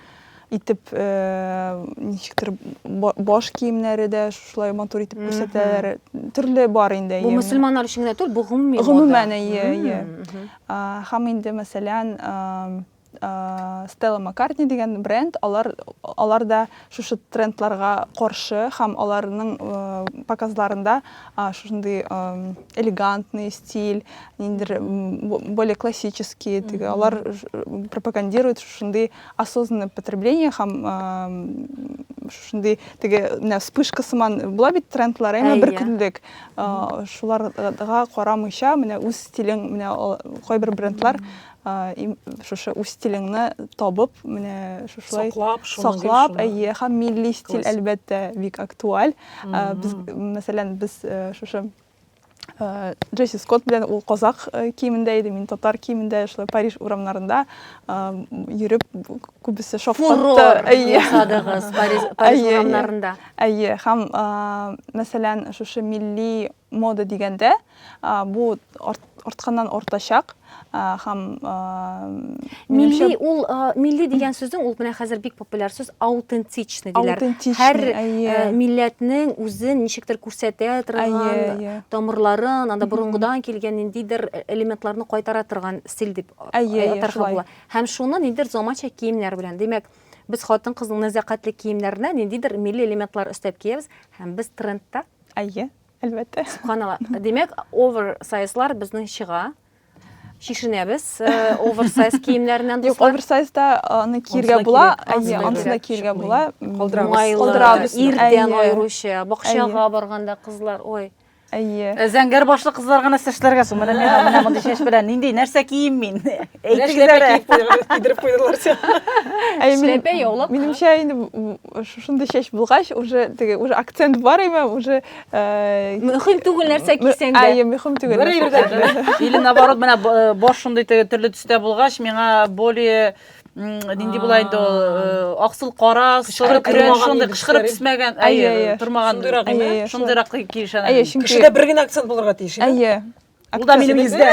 итеп ничектер баш киемнәре дә шулай матур итеп күрсәтәләр төрле бар инде бу мөселманнар өчен генә түгел бу гомуми гомумән әйе әйе һәм инде мәсәлән Стелла Маккартни дигән бренд, алар, алар да шушы трендларга каршы һәм аларның э, показларында шушындый э, элегантный стиль, ниндер более классический, теге, алар пропагандирует шушындый осознанное потребление һәм шушындый теге менә вспышка сыман була бит трендлар әмма бер көнлек шуларга карамыйча менә үз стилең менә кайбер брендлар шушы үз стилеңне табып менә шушылай саклап әйе һәм милли стиль әлбәттә бик актуаль без мәсәлән без шушы Джесси Скотт белән ул казак киемендә иде, мин татар киемендә шулай Париж урамнарында йөреп күбесе шафкатты. Әйе. Садыгыз Париж Париж урамнарында. Әйе, һәм мәсәлән, шушы милли мода дигәндә, бу артканнан артачак һәм милли ул милли дигән сүзнең ул менә хәзер бик популяр сүз аутентичный диләр һәр милләтнең үзен ничектер күрсәтә торган тамырларын анда борынгыдан килгән ниндидер элементларны кайтара торган стиль дип атарга була һәм шуны ниндидер заманча киемнәр белән димәк без хатын кызның нәзакәтле киемнәренә ниндидер милли элементлар өстәп киябез һәм без трендта әйе Әлбәттә. Субханалла. Димәк, оверсайзлар безнең чыга. Шишенәбез оверсайз киемнәреннән дуслар. Юк, оверсайзда аны киергә була, әйе, ансы да киергә була. Калдырабыз. Ирдән аеруча, бакчага барганда кызлар, ой. Әйе. Зәңгәр башлы кызлар гына сәчләргә су. Менә миңа менә мондый чәч белән нинди нәрсә кием мин? Әйтегез әле. Кидереп куйдылар. Әйе, минемчә инде Шушындый чәч булгач, уже теге уже акцент бар име, уже э, Мөһим түгел нәрсә кисәң дә. Әйе, мөһим түгел. Бер нәрсә ирдә. кисәң. Или наоборот, менә б- э, баш шундый теге төрле төстә булгач, миңа более м, нинди була инде ул э, аксыл кара, соры күрен тормаган шундый иде кычкырып төсләре. төсмәгән, Әйе, әйе, әйе. тормаган. Шундыйрак Әйе, име? әйе, шундый. Шундыйрак киешән. Әйе, чөнки Кешедә бер генә акцент булырга тиеш. иде. Әйе. Ул да минем йөздә.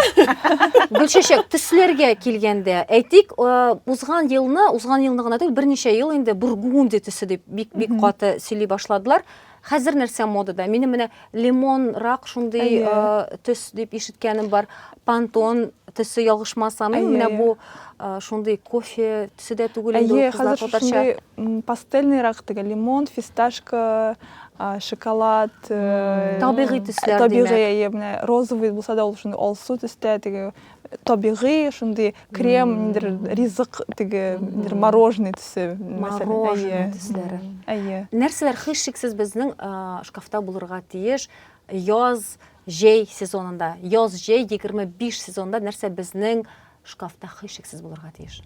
Гөлчәчәк, төсләргә килгәндә, әйтик, э, узган елны, узган елны гына түгел, берничә ел инде бургунди төсе дип бик бик каты сөйли башладылар. Хәзер нәрсә модада? Минем менә лимон, рак шундый э, төс дип ишеткәнем бар. Пантон төсе ялгышмасам, менә бу э, шундый кофе төсе дә түгел инде. Әйе, хәзер шундый пастельный рак, теге лимон, фисташка, шоколад табигый төсләр табигый менә розовый булса да ул шундый алсу төстә теге табигый шундый крем ниндер ризык теге ниндер мороженый төсе мороженый төсләре әйе нәрсәләр һичшиксез безнең шкафта булырга тиеш яз җәй сезонында яз җәй егерме биш сезонында нәрсә безнең шкафта һичшиксез булырга тиеш.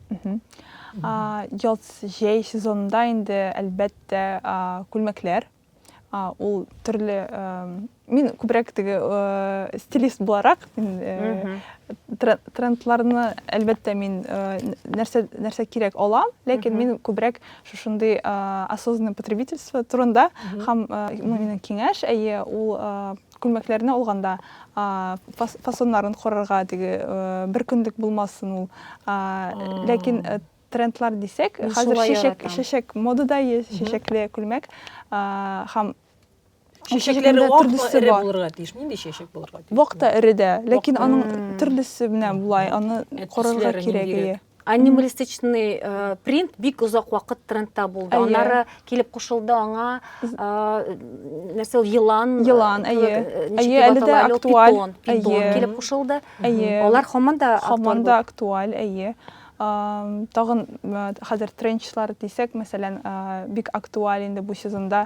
Яз, җәй сезонында инде, әлбәттә, күлмәкләр. Ул төрле мин күбрәк теге стилист буларак, трендларны, әлбәттә, мин нәрсә нәрсә кирәк алам, ләкин мин күбрәк шушындый осознанное потребительство турында һәм минем киңәш, әйе, ул Күлмәкләрне алганда фасоннарын карарга, теге бер көнлек булмасын ул. Ләкин трендлар дисәк, хәзер чәчәк, чәчәк модада есть, чәчәкле күлмәк. Һәм чәчәкләре төрлесе бар. Булырга тиеш. Нинди чәчәк булырга тиеш? Вакта эре дә, ләкин аның төрлесе менә булай, аны карарга кирәк. анималистичный э, принт бик озак вакыт трендта булды әйе. аннары килеп кушылды аңа э, нәрсә ул елан елан э, әйе әйе әле дә актуаль питон, питон әйе. килеп кушылды әйе алар һаман да һаман да актуаль әйе тагын хәзер тренчлар дисәк мәсәлән бик актуаль инде бу сезонда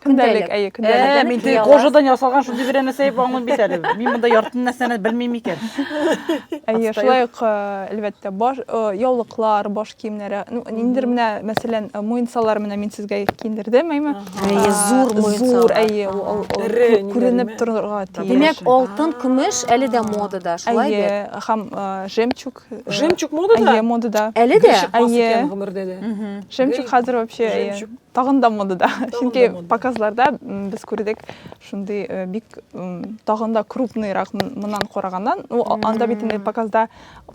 Көндәлек, әйе, көндәлек. Ә, мин теге кожадан ясалган шундый бер нәрсә дип аңлыйм бит әле. Мин монда ярты нәрсәне белмим икән. Әйе, шулай ук, әлбәттә, баш яулыклар, баш киемнәре. Ну, ниндидер менә, мәсәлән, муенсалар менә мин сезгә киендердем, әйме? Әйе, зур муенсалар. Зур, әйе, ул күренеп торырга тиеш. Димәк, алтын, көмеш әле дә модада, шулай бит? Әйе, һәм жемчуг. Жемчуг модада? Әйе, модада. Әле дә? Әйе. Жемчуг хәзер вообще, әйе. Жемчуг Тагын да модада. Чөнки показларда без күрдек шундый э, бик тагын да крупныйрак моннан караганнан. Ну, анда бит инде показда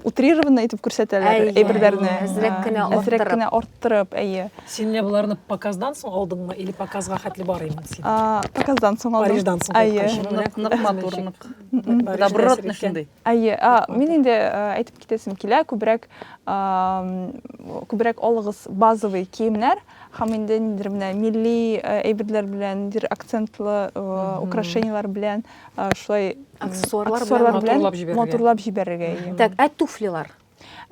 утрированно итеп күрсәтәләр әйберләрне. Әзрәк э, кенә арттырып. Әзрәк кенә арттырып, әйе. Син менә боларны показдан соң алдыңмы или показга хәтле бар инде син? Показдан соң алдым. Париждан соң. Әйе. Нык матур, нык. Добротный шундый. Әйе, мин инде әйтеп китәсем килә, күбрәк күбрәк алыгыз базовый киемнәр һәм инде ниндидер менә милли әйберләр белән, ниндидер акцентлы украшениеләр белән, шулай аксессуарлар белән матурлап җибәрергә. Так, ә туфлилар?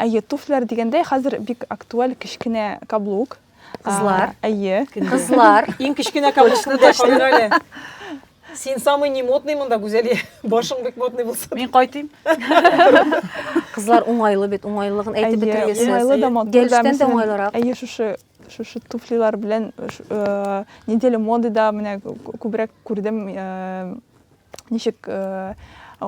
Әйе, туфләр дигәндә, хәзер бик актуаль кечкенә каблук. Кызлар. Әйе. Кызлар. Иң кечкенә каблукны да калыр әле. Син самый не модный монда, Гүзәлия. Башың бик модный булса. Мин кайтыйм. Кызлар уңайлы бит, уңайлыгын әйтеп бетергесез. Әйе, уңайлы да матур. Гелштән дә уңайлырак. Әйе, шушы шушы туфлилар белән неделя моды да менә күбрәк күрдем ничек э,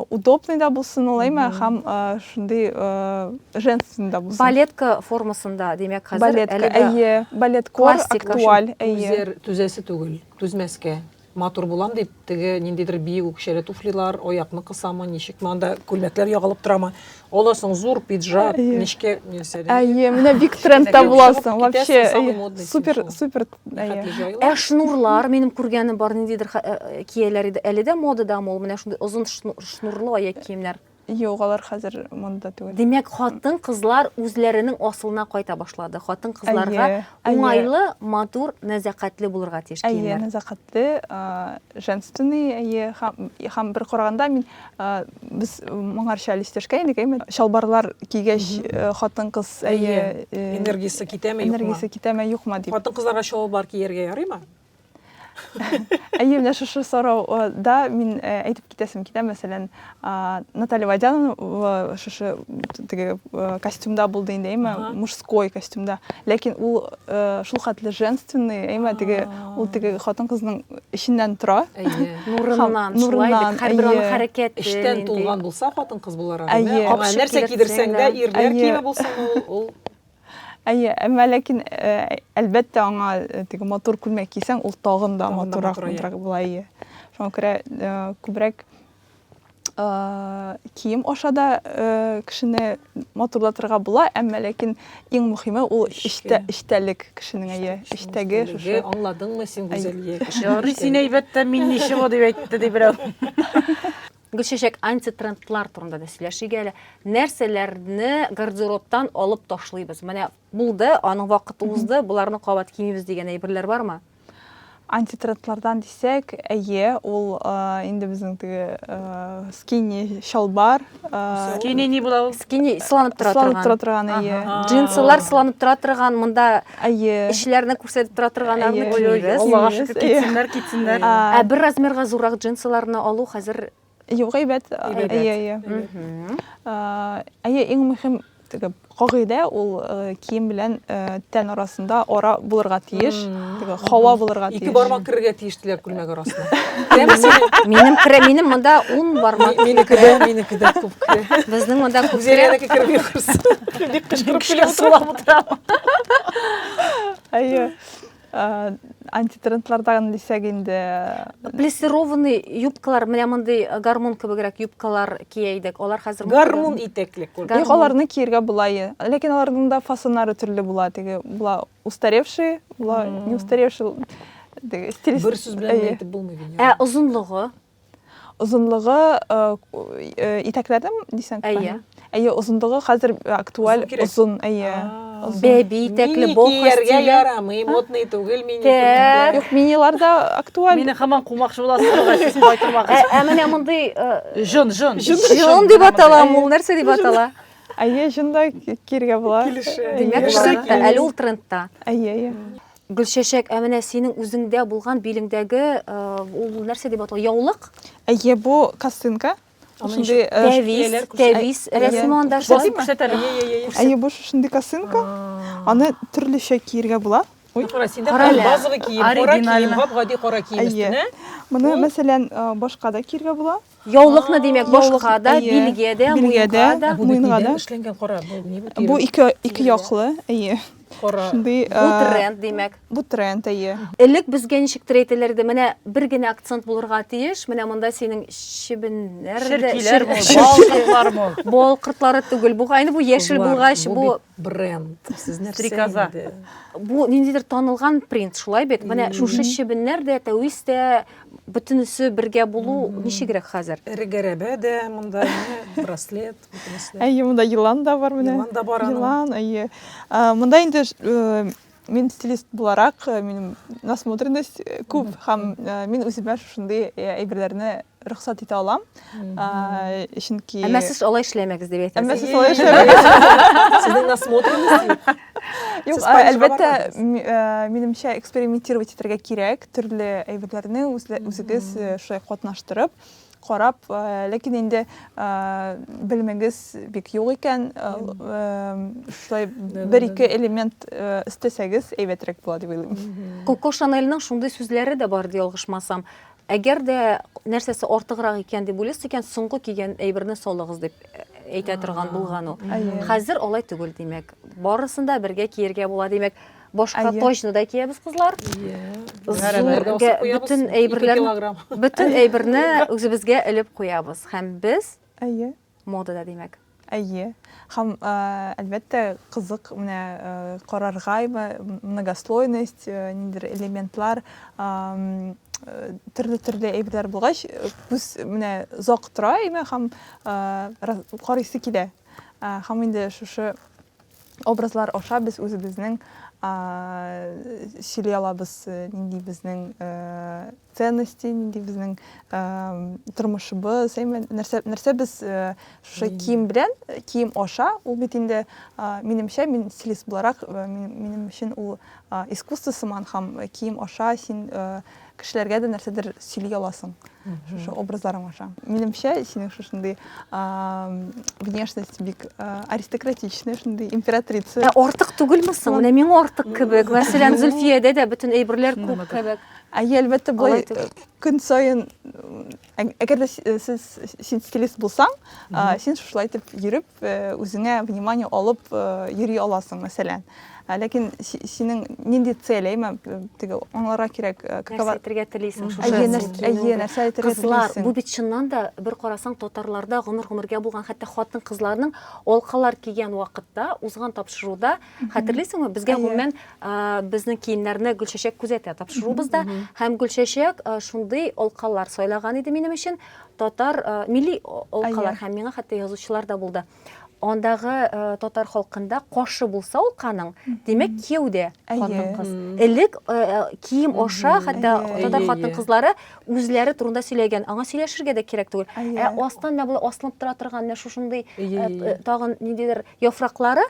удобный да булсын олай ма һәм э, шундый э, женственный да булсын балетка формасында димәк хәзер балетка әлеге әйе балеткор классика. актуаль әйе Үзләр түзәсе түгел, түзмәскә. Матур булам дип, теге ниндидер биек үкчәле туфлилар, аякны кысамы, ничекме анда күлмәкләр ягылып торамы. Аласың зур пиджак, Әйе. нечкә нәрсә. Әйе, менә бик трендта Кечкенә буласың. чыгып Вообще, китәсең, самый әйе, модный супер, телефон. супер. әйе. Хәтле җайлы. Ә шнурлар, минем күргәнем бар, ниндидер ха- э, кияләр иде. Әле дә модадамы ул менә шундый озын шну- шнурлы аяк киемнәр? Юк, алар хәзер монда түгел. Димәк, хатын-кызлар үзләренең асылына кайта башлады. Хатын-кызларга Әйе, әйе. уңайлы, матур, нәзакәтле булырга тиеш Әйе, киемнәр. нәзакәтле, а, женственный, әйе, һәм, һәм бер караганда мин Без моңарча әле истәшкә инек, әйме? Чалбарлар кигәч, хатын-кыз әйе, энергиясе китәме, юкмы? Энергиясе китәме, юкмы дип. Хатын-кызларга чалбар кияргә ярыймы? Әйе, менә шушы сорауда мин әйтеп китәсем китә, мәсәлән, Наталья Водянова шушы теге костюмда булды инде, әйме, мужской костюмда. Ләкин ул шул хәтле женственный, әйме, теге ул теге хатын-кызның эченнән тора. Әйе. Нурыннан, шулай бит, һәрбер аның хәрәкәте. Эчтән тулган булса, хатын-кыз буларак. Әйе. Аңа нәрсә кидерсәң дә, ирләр киеме булсын ул, ул Әйе, әмма ләкин э, әлбәттә аңа э, теге матур күлмәк кисәң, ул тагын да матуррак матуррак була, әйе. Шуңа күрә э, күбрәк кием аша да кешене матурлатырга була, әмма ләкин иң мөхиме ул эчтә эчтәлек кешенең әйе, эчтәге шушы. Аңладыңмы син Гүзәлия? Ярый син әйбәттә мин ничего дип әйтте ди берәү. Гөлчәчәк, антитрендлар турында да сөйләшик әле. Нәрсәләрне гардеробтан алып ташлыйбыз? Менә булды, аның вакыты узды, боларны кабат кимибез дигән әйберләр бармы? Антитренд-лардан дисәк, әйе, ул инде безнең теге скини чалбар. Скини ни була ул? Скини сыланып тора торган. Сыланып тора торган, әйе. Джинсылар сыланып тора торган, монда әйе. Эшләрне күрсәтеп тора торган арны киемнәр. Аллага шөкер, китсеннәр, китсеннәр. Ә бер размерга зуррак джинсыларны алу хәзер Юк, әйбәт. Әйбәт. Әйе, әйе. Мгм. Э, Әйе, иң мөһим теге кагыйдә ул э, кием белән э, тән арасында ара булырга тиеш. Теге һава булырга тиеш. Ике бармак керергә тиеш диләр күлмәк арасына. Керәме синең? Минем керә, минем монда 10 бармак. Минеке дә, минеке дә күп керә. Безнең монда күп керә. Гүзәләнеке керми кырсын. Бик кычкырып көлә сулап утыра. Әйе. Э, антитрендлардан дисәк инде э, плессированный юбкалар менә мондый э, гармун кебегрәк юбкалар кия идек алар хәзер гармун итәкле юк аларны киергә була ләкин аларның да фасоннары төрле була теге була устаревший була не устаревший бер сүз белән әйтеп булмый ә озынлыгы Озынлыгы итәкләрдән дисәң? Әйе. Әйе, озынлыгы хәзер актуаль озын, әйе. Бәби итәкле бохос кияр. Мини кияргә ярамый, модный түгел мини. Юк, миниларда актуаль. Мине һаман кумакчы буласызмы? Сез кайтырмагыз. Ә менә мондый җон, җон. Җон дип атала, ул нәрсә дип атала? Әйе, җон да киергә була. Килешә. Димәк, әле ул трендта. Әйе, әйе. Гөлчәчәк, ә менә синең үзеңдә булган билеңдәге ул нәрсә дип атала? Яулык? Әйе, бу косынка. Шундый тәвис, тәвис рәсеме анда шулай күрсәтәләр. Әйе, бу шундый косынка. Аны төрлечә киергә була. Кара, синдә базовый кием, кара кием, гади кара кием өстенә. Моны, мәсәлән, башка да киергә була. Яулыкны димәк башка да, билгә дә, муенга да. Бу муенга да. Эшләнгән кара. Бу ике ике яклы, әйе. Кара. Шундый. Бу тренд димәк. Бу тренд, әйе. Элек безгә ничек әйтәләр иде, менә бер генә акцент булырга тиеш, менә монда синең чебеннәр дә, чиркиләр, балкыртлар түгел. Бу кайны бу яшел булгач, бу бренд сез нәрсә стрекоза бу ниндидер танылган принт шулай бит менә шушы чебеннәр дә тәвис тә бөтенесе бергә булу ничегрәк хәзер эре гәрәбә дә монда браслет әйе монда елан да бар менә елан да бар елан әйе монда инде э, Мин стилист буларак, э, минем насмотренность э, күп һәм э, мин үземә шушындый әйберләрне рөхсәт итә алам. Чөнки Әмма сез алай эшләмәгез дип әйтәсез. Әмма сез алай эшләмәгез. Сезнең насмотренность. Юк, әлбәттә, минемчә экспериментировать итәргә кирәк, төрле әйберләрне үзегез шулай катнаштырып. карап, ләкин инде белемегез бик юк икән, шулай бер-ике элемент өстәсәгез, әйбәтрәк була дип уйлыйм. Коко Шанельның шундый сүзләре дә бар, ялгышмасам. Әгәр дә нәрсәсе артыграк икән дип уйлыйсыз икән, соңгы кигән әйберне салыгыз дип әйтә торган булган ул. Хәзер алай түгел, димәк. Барысын да бергә киергә була, димәк. Башка Әйе. точно да киябез кызлар. Зурга бөтен әйберләрне бөтен әйберне үзебезгә элеп куябыз һәм без Әйе. модада димәк. Әйе. Һәм әлбәттә кызык менә карарга многослойность, ниндер элементлар төрле төрле әйберләр булгач күз менә зак тора име һәм карыйсы килә һәм инде шушы Образлар аша без үзебезнең сөйли алабыз, нинди безнең ценности, нинди безнең тормышыбыз, әйме, нәрсә, нәрсә без шушы кием белән, кием аша, ул бит инде минемчә, мин стилист буларак, минем өчен ул искусство сыман һәм кием аша син кешеләргә дә нәрсәдер сөйли аласың шушы образларың аша минемчә синең шушындый внешность бик аристократичный шундый императрица ә артык түгелме соң менә миңа артык кебек мәсәлән зөлфиядә дә бөтен әйберләр күп кебек әйе әлбәттә болай көн саен Әгәр дә сез син стилист булсаң, син шулай итеп йөреп, үзеңә внимание алып йөри аласың, мәсәлән. Ләкин синең нинди цель, әйме, теге аңларга кирәк, какова... Нәрсә әйтергә телисең шушы? Әйе, нәрсә, әйе, нәрсә әйтергә телисең? Кызлар, бу бит чыннан да бер карасаң татарларда гомер-гомергә булган, хәтта хатын-кызларның алкалар кигән вакытта, узган тапшыруда Хәтерлисеңме, безгә гомумән безнең киемнәрне Гөлчәчәк күзәтә тапшырубызда һәм Гөлчәчәк шундый алкалар сайлаган иде минем өчен, татар милли алкалар һәм миңа хәтта язучылар да булды. Андагы э, татар халкында кошы булса алканың, димәк кияү дә хатын кыз. Элек э, э, кием аша хәтта татар хатын кызлары үзләре турында сөйләгән. Аңа сөйләшергә дә кирәк түгел. Ә астан менә булай аслынып тора торган менә шушындый тагын ниндидер яфраклары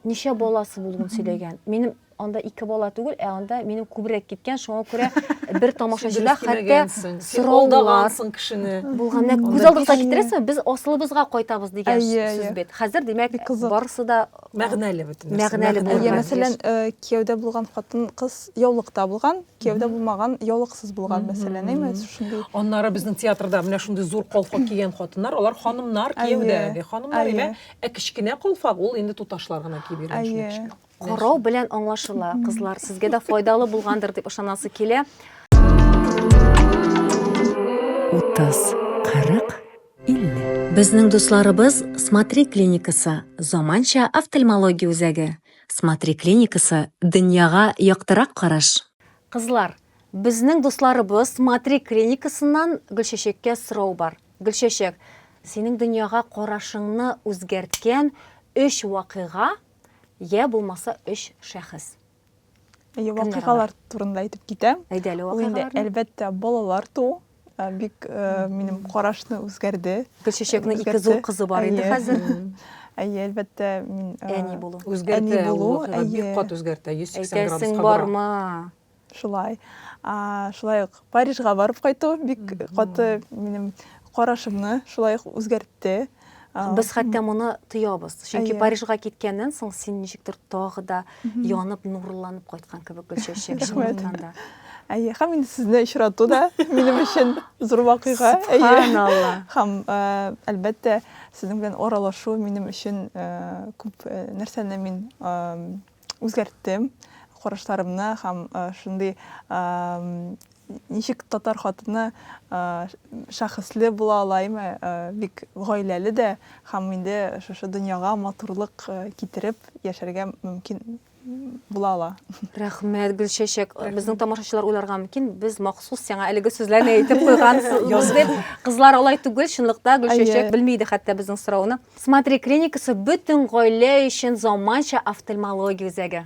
ничә баласы булуын сөйләгән. Минем анда ике бала түгел, ә анда минем күбрәк киткән, шуңа күрә бер тамашачыда хәтта сораулар кешене. Булган. Менә күз алдыгызга китерәсезме? Без асылыбызга кайтабыз дигән сүз бит. Хәзер димәк, барысы да мәгънәле бөтен. Мәгънәле булган. Мәсәлән, кияүдә булган хатын кыз яулыкта булган, кияүдә булмаган яулыксыз булган, мәсәлән, әйме? Шундый. Аннары безнең театрда менә шундый зур колфак кигән хатыннар, алар ханымнар кияүдәге ханымнар, әйме? Ә кечкенә калфак ул инде туташлар гына киеп йөргән өчен Әйе. кечкенә. Карау белән аңлашыла, кызлар, сезгә дә файдалы булгандыр дип ышанасы килә. 30, 40, 50. Безнең дусларыбыз Смотри клиникасы, заманча офтальмология үзәге. Смотри клиникасы, дөньяга яктырак караш. Кызлар, безнең дусларыбыз Смотри клиникасыннан Гөлчәчәккә сорау бар. Гөлчәчәк, синең дөньяга карашыңны үзгәрткән өч вакыйга йә булмаса өч шәхес? Әйе, вакыйгалар турында әйтеп китәм. Әйдә әле вакыйгаларны. Әлбәттә, балалар туу бик минем карашны үзгәрде. Гөлчәчәкнең ике зур кызы бар инде хәзер. Әйе, әлбәттә, мин әни булу. Үзгәртә, бик кат үзгәртә, 180 градуска бора. Әйтәсең бармы? Шулай. Шулай ук Парижга барып кайту бик каты минем карашымны шулай ук үзгәртте. Без хәтта моны тоябыз. Чөнки Парижга киткәннән соң син ничектер тагы да янып, нурланып кайткан кебек Гөлчәчәк чынлыкта да. Әйе, һәм инде сезне очрату да минем өчен зур вакыйга. Субханалла. Һәм әлбәттә, сезнең белән аралашу минем өчен күп нәрсәне мин үзгәрттем карашларымны һәм шундый ничек татар хатыны шәхесле була алаймы бик гаиләле дә һәм инде шушы дөньяга матурлык китереп яшәргә мөмкин була ала рәхмәт гөлчәчәк безнең тамашачылар уйларга мөмкин без махсус сиңа әлеге сүзләрне әйтеп куйгансыз дип кызлар алай түгел чынлыкта гөлчәчәк белми иде хәтта безнең сорауны Смотри клиникасы бөтен гаилә өчен заманча офтальмология үзәге.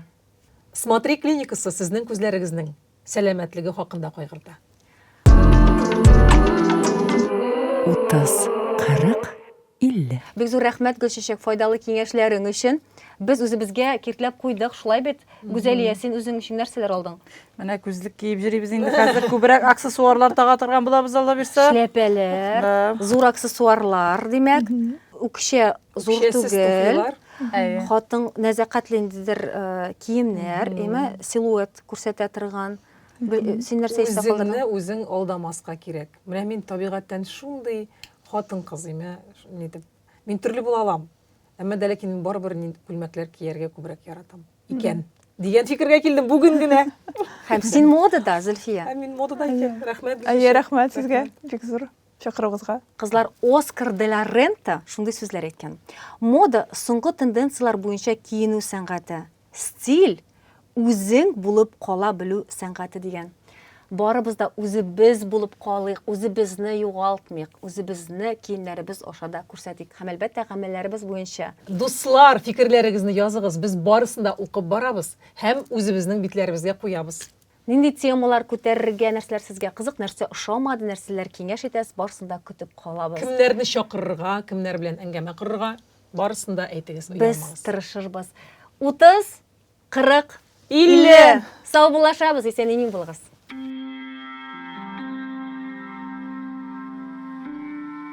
Смотри клиникасы сезнең күзләрегезнең сәламәтлеге хакында кайгырта. Утыз, кырык, илле. Бик зур рәхмәт, Гөлчәчәк, файдалы киңәшләрең өчен. Без үзебезгә киртләп куйдык, шулай бит? Гүзәлия, син үзең өчен нәрсәләр алдың? Менә күзлек киеп йөрибез инде хәзер. Күбрәк аксессуарлар тага торган булабыз Алла бирсә. Шляпәләр, зур аксессуарлар, димәк. Үкчә зур түгел. Хатын нәзәкәтле ниндидер киемнәр, әмма силуэт күрсәтә торган. Син нәрсә исә калдың? Үзеңне үзең алдамаска кирәк. Менә мин табигатьтән шундый хатын-кыз имә, нидеп Мин төрле була алам. Әмма дә ләкин мин барыбер күлмәкләр кияргә күбрәк яратам икән. Дигән фикергә килдем бүген генә. Һәм син модада, Зөлфия. Һәм мин модада икән. Рәхмәт. Әйе, рәхмәт сезгә. Бик зур чакыруыгызга. Кызлар Оскар де ла Рента шундый сүзләр әйткән. Мода соңгы тенденцияләр буенча киенү сәнгате. Стиль, үзең булып кала белү сәнгате дигән. Барыбыз да үзебез булып калыйк, үзебезне югалтмыйк, үзебезне киемнәребез аша да күрсәтик һәм, әлбәттә, гамәлләребез буенча. Дуслар, фикерләрегезне языгыз, без барысын да укып барабыз һәм үзебезнең битләребезгә куябыз. Нинди темалар күтәрергә, нәрсәләр сезгә кызык, нәрсә ошамады, нәрсәләр киңәш итәс, барсын да көтеп калабыз. Кемнәрне чакырырга, кемнәр белән әңгәмә корырга, барысын да әйтегез, оялмагыз. Без тырышырбыз. 30, 40, 50! Саубуллашабыз, исән-имин булыгыз!